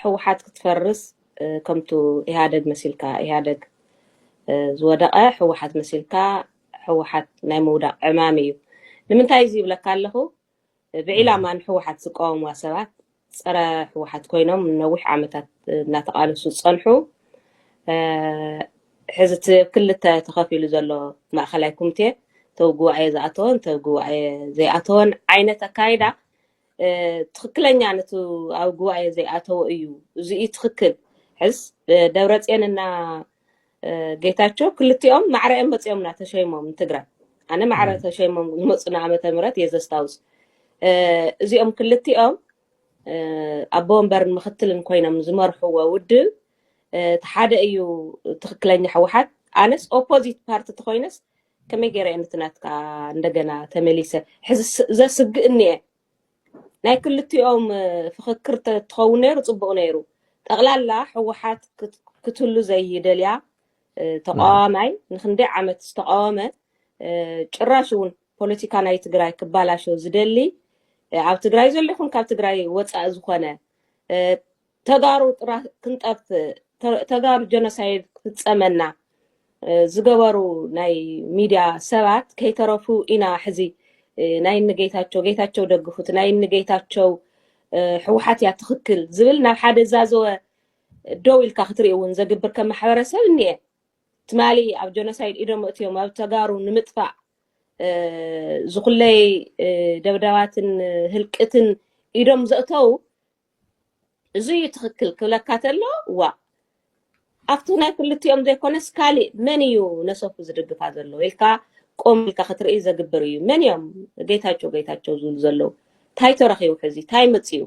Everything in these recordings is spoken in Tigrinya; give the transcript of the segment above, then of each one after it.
ሕውሓት ክትፈርስ ከምቱ ኢህደግ መሲልካ ኢህደግ ዝወደቐ ሕወሓት መሲልካ ሕወሓት ናይ ምውዳቕ ዕማም እዩ ንምንታይ እዚ ይብለካ ኣለኹ ብዒላማ ንሕወሓት ዝቃወምዋ ሰባት ፀረ ህወሓት ኮይኖም ንነዊሕ ዓመታት እናተቃለሱ ዝፀንሑ ሕዚ እቲ ክልተ ተኸፊሉ ዘሎ ማእኸላይ ኮሚቴ ተው ጉባኤ ዝኣተወን ተው ጉባኤ ዘይኣተወን ዓይነት ኣካይዳ ትክክለኛ ነቲ ኣብ ጉባኤ ዘይኣተወ እዩ እዚኡ ትክክል ሕዝ ደብረፅዮንና ጌታቸው ክልቲኦም ማዕረ እዮም መፂኦምና ተሸይሞም ንትግራይ ኣነ ማዕረ ተሸይሞም ዝመፁና ዓመተ ምህረት እየ ዘስታውስ እዚኦም ክልቲኦም ኣቦ ወንበርን ምክትልን ኮይኖም ዝመርሕዎ ውድብ እቲ ሓደ እዩ ትክክለኛ ህወሓት ኣነስ ኦፖዚት ፓርቲ ተኮይነስ ከመይ ገይረ እየ ነቲ ናትካ እንደገና ተመሊሰ ሕዚ ዘስግእኒ እየ ናይ ክልቲኦም ፍኽክር ተትኸውን ነይሩ ጽቡቕ ነይሩ። ጠቕላላ ህወሓት ክትህሉ ዘይደልያ ተቃዋማይ ንክንደይ ዓመት ዝተቃወመ ጭራሽ እውን ፖለቲካ ናይ ትግራይ ክባላሾ ዝደሊ ኣብ ትግራይ ዘሎ ይኹን ካብ ትግራይ ወፃኢ ዝኾነ ተጋሩ ጥራህ ክንጠፍእ ተ- ተጋሩ ጀኖሳይድ ክፍፀመና እ፣ ዝገበሩ ናይ ሚድያ ሰባት ከይተረፉ ኢና ሕዚ እ፣ ናይ እኒ ጌታቸው ጌታቸው ደግፉት ናይ እኒ ጌታቸው እ፣ ህወሓት እያ ትኽክል ዝብል ናብ ሓደ ዛዘወ ደው ኢልካ ክትርኢ እውን ዘግብር ከም ማሕበረሰብ እኒአ ትማሊ ኣብ ጀኖሳይድ ኢዶም እትዮም ኣብ ተጋሩ ንምጥፋእ እ፣ ዝኹለይ እ፣ ደብዳባትን እ፣ ህልቅትን ኢዶም ዘእተው እዙይ እዩ ትኽክል ክብለካ ተሎ ዋእ ኣብቲ ናይ ክልቲኦም ዘይኮነስ ካሊእ መን እዩ ነሰኩ ዝድግፋ ዘሎ ኢልካ ቆም ኢልካ ክትርኢ ዘግብር እዩ መን እዮም ጌታቸው ጌታቸው ዝብሉ ዘለዉ እንታይ ተረኺቡ ሕዚ እንታይ መፅኡ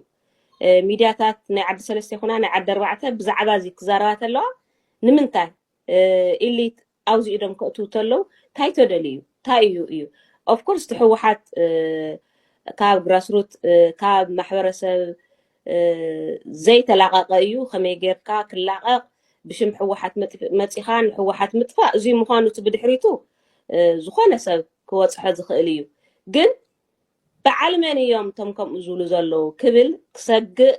እ፣ ሚድያታት ናይ ዓዲ ሰለስተ ይኹና ናይ ዓዲ ኣርባዕተ ብዛዕባ እዚ ክዛረባ ተለዋ ንምንታይ እ፣ ኢሊት ኣብዚ ኢዶም ከእትዉ ተለዉ ታይ ተደልዩ ታይ እዩ እዩ of course እቲ ሕወሓት ካብ ግራስሩት ካብ ማሕበረሰብ ዘይተላቐቐ እዩ ከመይ ጌርካ ክላቐቕ ብሽም ሕወሓት መፂኻ ንሕወሓት ምጥፋእ እዙይ ምዃኑ እቲ ብድሕሪቱ ዝኾነ ሰብ ክወፅሖ ዝኽእል እዩ ግን በዓል መን እዮም እቶም ከምኡ ዝብሉ ዘለዉ ክብል ክሰግእ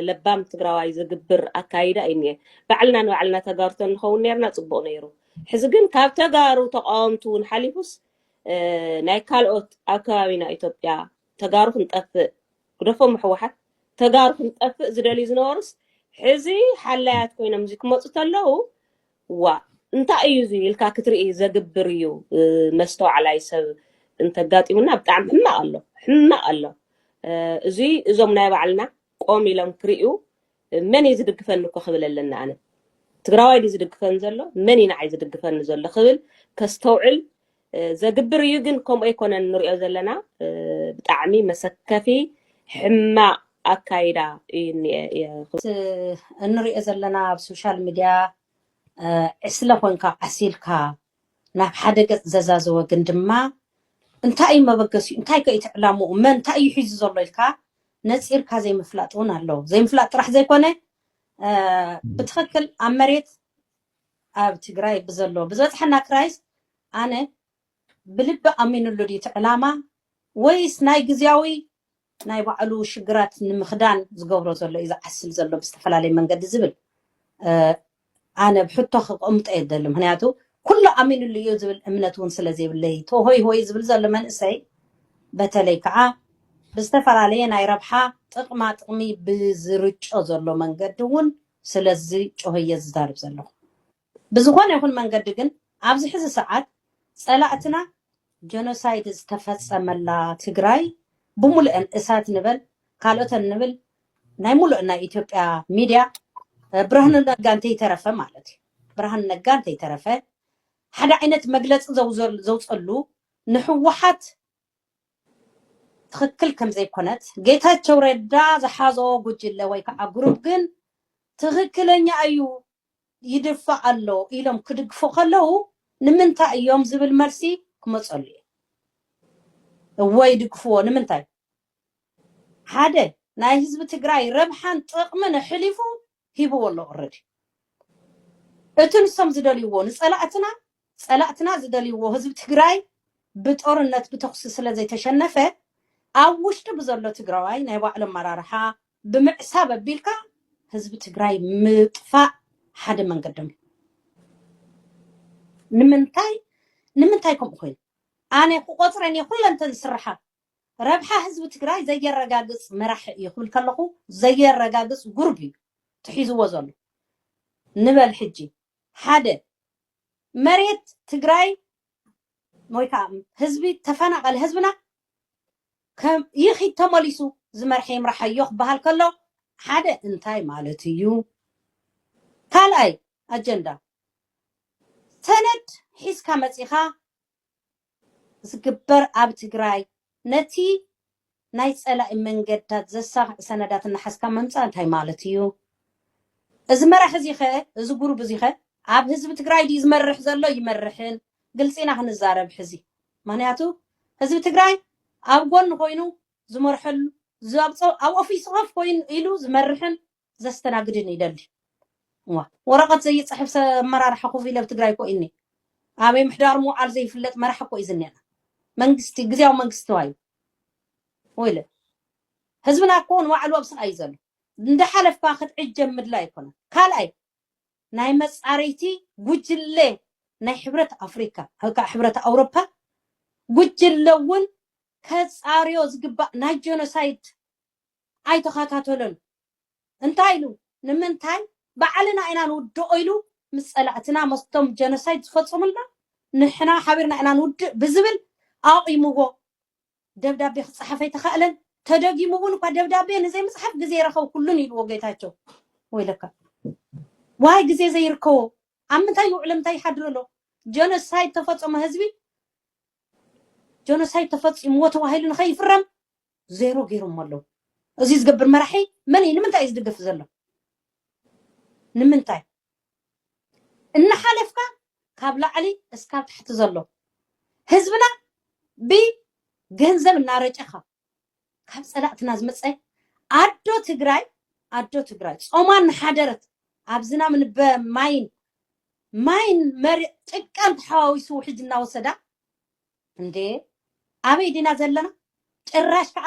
ለባም ትግራዋይ ዝግብር ኣካይዳ እዩ እኒኤ። ባዕልና ንባዕልና ተጋሩ ተንኸውን ነርና ጽቡቕ ነይሩ። ሕዚ ግን ካብ ተጋሩ ተቃወምቲ እውን ሓሊፉስ ናይ ካልኦት ኣብ ከባቢና ኢትዮጵያ ተጋሩ ክንጠፍእ ግደፎም ሕወሓት ተጋሩ ክንጠፍእ ዝደልዩ ዝነበሩስ ሕዚ ሓላያት ኮይኖም እዚ ክመፁ ተለው ዋእ እንታይ እዩ እዚ ኢልካ ክትርኢ ዘግብር እዩ መስተዋዕላይ ሰብ እንተጋጢሙና ብጣዕሚ ሕማቅ ኣሎ ሕማቅ ኣሎ እዚ እዞም ናይ ባዕልና ቆም ኢሎም ክርእዩ መን እዩ ዝድግፈኒ እኮ ክብል ኣለኒ ኣነ ትግራዋይ ድዩ ዝድግፈኒ ዘሎ መን እዩ ንዓይ ዝድግፈኒ ዘሎ ክብል ከስተውዕል ዘግብር እዩ ግን ከምኡ ኣይኮነን ንሪኦ ዘለና ብጣዕሚ መሰከፊ ሕማቅ ኣካይዳ እዩ እንሪኦ ዘለና ኣብ ሶሻል ሚድያ ዕስለ ኮንካ ዓሲልካ ናብ ሓደ ገፅ ዘዛዘወ ግን ድማ እንታይ እዩ መበገሲኡ እንታይ ከ እቲ ዕላምኡ መን እንታይ እዩ ሒዙ ዘሎ ኢልካ ነፂርካ ዘይምፍላጥ እውን ኣሎ ዘይምፍላጥ ጥራሕ ዘይኮነ ብትክክል ኣብ መሬት ኣብ ትግራይ ብዘሎ ብዝበፅሐና ክራይስ ኣነ ብልቢ ኣሚንሉ ድዩ እቲ ዕላማ ወይስ ናይ ግዝያዊ ናይ ባዕሉ ሽግራት ንምኽዳን ዝገብሮ ዘሎ እዩ ዝዓስል ዘሎ ብዝተፈላለየ መንገዲ ዝብል ኣነ ብ ሕቶ ክቕምጦ እየ ዝደሊ ምክንያቱ ኩሉ ኣሚንሉ እዩ ዝብል እምነት እውን ስለ ዘይብለይ ተሆይ ሆይ ዝብል ዘሎ መንእሰይ በተለይ ከዓ ብዝተፈላለየ ናይ ረብሓ ጥቕማ ጥቕሚ ብዝርጮ ዘሎ መንገዲ እውን ስለዚ ጮህ እየ ዝዛርብ ዘለኹ። ብዝኾነ ይኹን መንገዲ ግን ኣብዚ ሕዚ ሰዓት ፀላእትና ጀኖሳይድ ዝተፈፀመላ ትግራይ ብሙሉኤን እሳት ንበል ካልኦተን ንብል ናይ ሙሉእ ናይ ኢትዮጵያ ሚድያ ብርሃኑ ነጋ እንተይተረፈ ማለት እዩ ብርሃኑ ነጋ እንተይተረፈ ሓደ ዓይነት መግለፂ ዘውፀሉ ንሕወሓት ትኽክል ከም ዘይኮነት ጌታቸው ረዳ ዝሓዞ ጉጅለ ወይ ከዓ ግሩፕ ግን ትኽክለኛ እዩ ይድፋእ ኣሎ ኢሎም ክድግፉ ከለው ንምንታይ እዮም ዝብል መልሲ ክመፀሉ እዩ እወ ይድግፍዎ ንምንታይ ሓደ ናይ ህዝቢ ትግራይ ረብሓን ጥቕምን ኣሕሊፉ ሂብዎ ኣሎ ኦረዲ እቲ ንሶም ዝደልይዎ ንፀላእትና ፀላእትና ዝደልይዎ ህዝቢ ትግራይ ብጦርነት ብተኹሲ ስለዘይተሸነፈ ኣብ ውሽጢ ብዘሎ ትግራዋይ ናይ ባዕሉ ኣመራርሓ ብምዕሳብ ኣቢልካ ህዝቢ ትግራይ ምጥፋእ ሓደ መንገዶም እዩ ንምንታይ ንምንታይ ከምኡ ኮይኑ ኣነ ክቆፅረን እየ ኩለንተን ዝስርሓ ረብሓ ህዝቢ ትግራይ ዘየረጋግፅ መራሒ እዩ ክብል ከለኹ ዘየረጋግፅ ጉርብ እዩ ትሒዝዎ ዘሎ ንበል ሕጂ ሓደ መሬት ትግራይ ወይ ከዓ ህዝቢ ተፈናቐለ ህዝብና ይኺድ ተመሊሱ ዝመርሐ ይምራሓዮ ክበሃል ከሎ ሓደ እንታይ ማለት እዩ ካልኣይ ኣጀንዳ ሰነድ ሒዝካ መፂኻ ዝግበር ኣብ ትግራይ ነቲ ናይ ፀላኢ መንገድታት ዘሳኽዕ ሰነዳት እናሓዝካ ምምፃእ እንታይ ማለት እዩ? እዚ መራሒ እዙይ ከ እዚ ጉሩብ እዙይ ከ ኣብ ህዝቢ ትግራይ ድዩ ዝመርሕ ዘሎ ይመርሕን? ግልፂ ኢና ክንዛረብ ሕዚ ምኽንያቱ ህዝቢ ትግራይ ኣብ ጎኑ ኮይኑ ዝመርሐሉ ኣብ ኦፊሱ ከፍ ኮይኑ ኢሉ ዝመርሕን ዘስተናግድን ይደሊ እዋ ወረቀት ዘይፅሕፍ ሰ ኣመራርሓ ኮፍ ኢለ ብ ትግራይ እኮ ኢኒ ኣበይ ምሕዳሩ ምውዓሉ ዘይፍለጥ መራሒ እኮ እዩ ዝኒኣና መንግስቲ ግዝያዊ መንግስቲ ተባሂሉ ወይለ ህዝብና እኮ ንባዕሉ ኣብ ስቃይ እዩ ዘሎ እንዳሓለፍካ ክትዕጀብ ምድላይ ኣይኮነን ካልኣይ ናይ መፃረይቲ ጉጅለ ናይ ሕብረት ኣፍሪካ ወይ ከዓ ሕብረት ኣውሮፓ ጉጅለ እውን ከፃርዮ ዝግባእ ናይ ጀኖሳይድ ኣይተኸታተሎን እንታይ ኢሉ ንምንታይ ባዕልና ኢና ንውድኦ ኢሉ ምስ ፀላእትና መስቶም ጀኖሳይድ ዝፈፀሙልና ንሕና ሓቢርና ኢና ንውድእ ብዝብል ኣቑይምዎ ደብዳቤ ክፀሓፍ ኣይተኻእለን ተደጊሙ እውን እኳ ደብዳቤ ንዘይምፅሓፍ ግዜ ኣይረኸብኩሉን ኢልዎ ጌታቸው ወይለካ ዋይ ግዜ ዘይርከቦ ኣብ ምንታይ ይውዕለ ምንታይ ይሓድሮ ኣሎ ጀኖሳይድ ተፈፀሞ ህዝቢ ጀኖሳይድ ተፈፂምዎ ተባሂሉ ንኸይፍረም ዜሮ ገይሮሞ ኣለዉ እዚ ዝገብር መራሒ መን እዩ ንምንታይ እዩ ዝድግፍ ዘሎ ንምንታይ እናሓለፍካ ካብ ላዕሊ እስካብ ታሕቲ ዘሎ ህዝብና ብገንዘብ እናረጨኻ ካብ ፀላእትና ዝመፀ ኣዶ ትግራይ ኣዶ ትግራይ ጾማ እናሓደረት ኣብ ዝናም ንበ ማይን ማይን መሪ ጭቃን ተሓዋዊሱ ውሕጅ እናወሰዳ እንዴ ኣበይ ዲና ዘለና ጭራሽ ከዓ